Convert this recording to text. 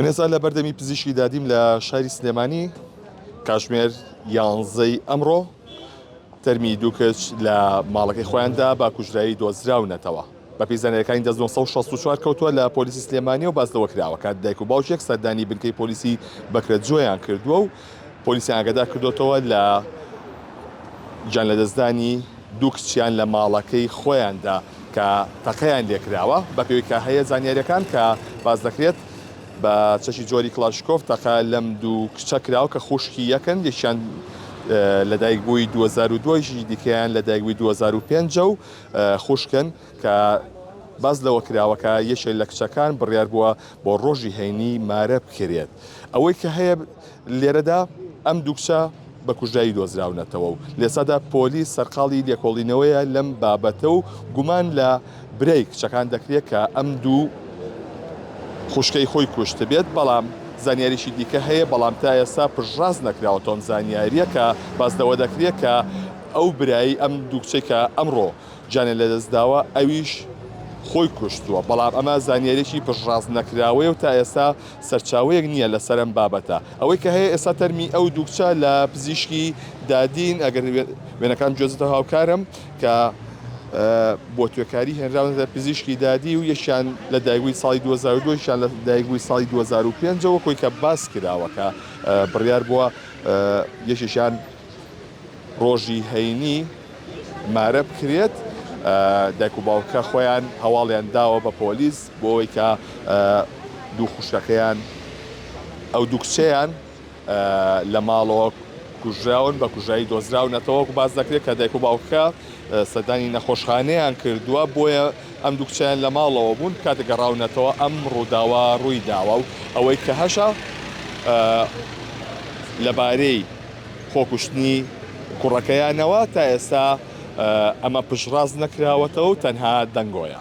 من ئێستا لە بەردەمی پزیشکی دادیم لە شاری سلێمانی کاشمێر یانزەی ئەمڕۆ تەرمی دوو کچ لە ماڵەکەی خۆیاندا با کوژرایی دۆزراونەتەوە بە پیزانەکانی دە 1964 کەوتووە لە پۆلیسی سلێمانی و باز لەوە کراوە کات دایک و باوکێک سەردانی بنکەی پۆلیسی بەکرە جۆیان کردووە و پۆلیسیان ئاگادار کردۆتەوە لە گیان لەدەستدانی دوو کچیان لە ماڵەکەی خۆیاندا کە تەقەیان لێکراوە بەپێوی کە هەیە زانیاریەکان کە باز دەکرێت بە چەکی جۆری کلاشکۆف تەقە لەم دوو کچە کراوە کە خوشکی یەکن یەکیان لە دایک بووی 2002 دیکەیان لە دایکبووی 2005 و خوشکن کە باس لەوە کراوە کە یەکێ لە کچەکان بڕیار بووە بۆ ڕۆژی هەینی مارە بکرێت. ئەوەی کە هەیە لێرەدا ئەم دوو کچە بە کوژرایی دۆزراونەتەوە و لێسادا پۆلیس سەرقاڵی لێکۆڵینەوەیە لەم بابەتە و گومان لە برای کچەکان دەکرێت کە ئەم دوو خوشکەی خۆی کوشتبێت، بەڵام زانیاریی دیکە هەیە، بەڵام تا ئێستا پشتڕاست نەکراوەتەوەم زانیارییەکە، باس لەوە دەکرێت کە ئەو برای ئەم دوو کچەی کە ئەمڕۆ گیانی لەدەستداوە ئەویش خۆی کوشتووە، بەڵام ئەمە زانیارییەکی پشتڕاست نەکراوەیە و تا ئێستا سەرچاوەیەک نییە لەسەر ئەم بابەتە، ئەوەی کە هەیە ئێستا تەرمی ئەو دوو کچە لە پزیشکی دادین، ئەگەر وێنەکانم گوێزتەوە هاوکارم، کە بۆ توێکاری هێنراونەتە پزیشکی دادی و یەکیان لە دایکبووی ساڵی دوو هەزار و دوو یەکیان لە دایکبووی ساڵی دوو هەزار و پێنج وەکوی کە باسکراوە کە بڕیاربووە یەکێکیان ڕۆژی هەینی مارە بکرێت، دایک و باوکە خۆیان هەواڵیان داوە بە پۆلیس بۆوەی کە دوو خوشکەکەیان ئەو دوو کچەیان لە ماڵەوە کوژراون بە کوژایی دۆزراونەتەوە وەکو باس دەکرێت کە دایک و باوکە سەردانی نەخۆشخانەیان کردووە بۆیە ئەم دوو کچەیان لە ماڵەوە بوون کاتێک گەڕاونەتەوە ئەم ڕووداوە ڕووی داوە و ئەوەی کە هەشە لەبارەی خۆکوشتنی کوڕەکەیانەوە، تا ئێستا ئەمە پشتڕاست نەکراوەتەوە و تەنها دەنگۆیە.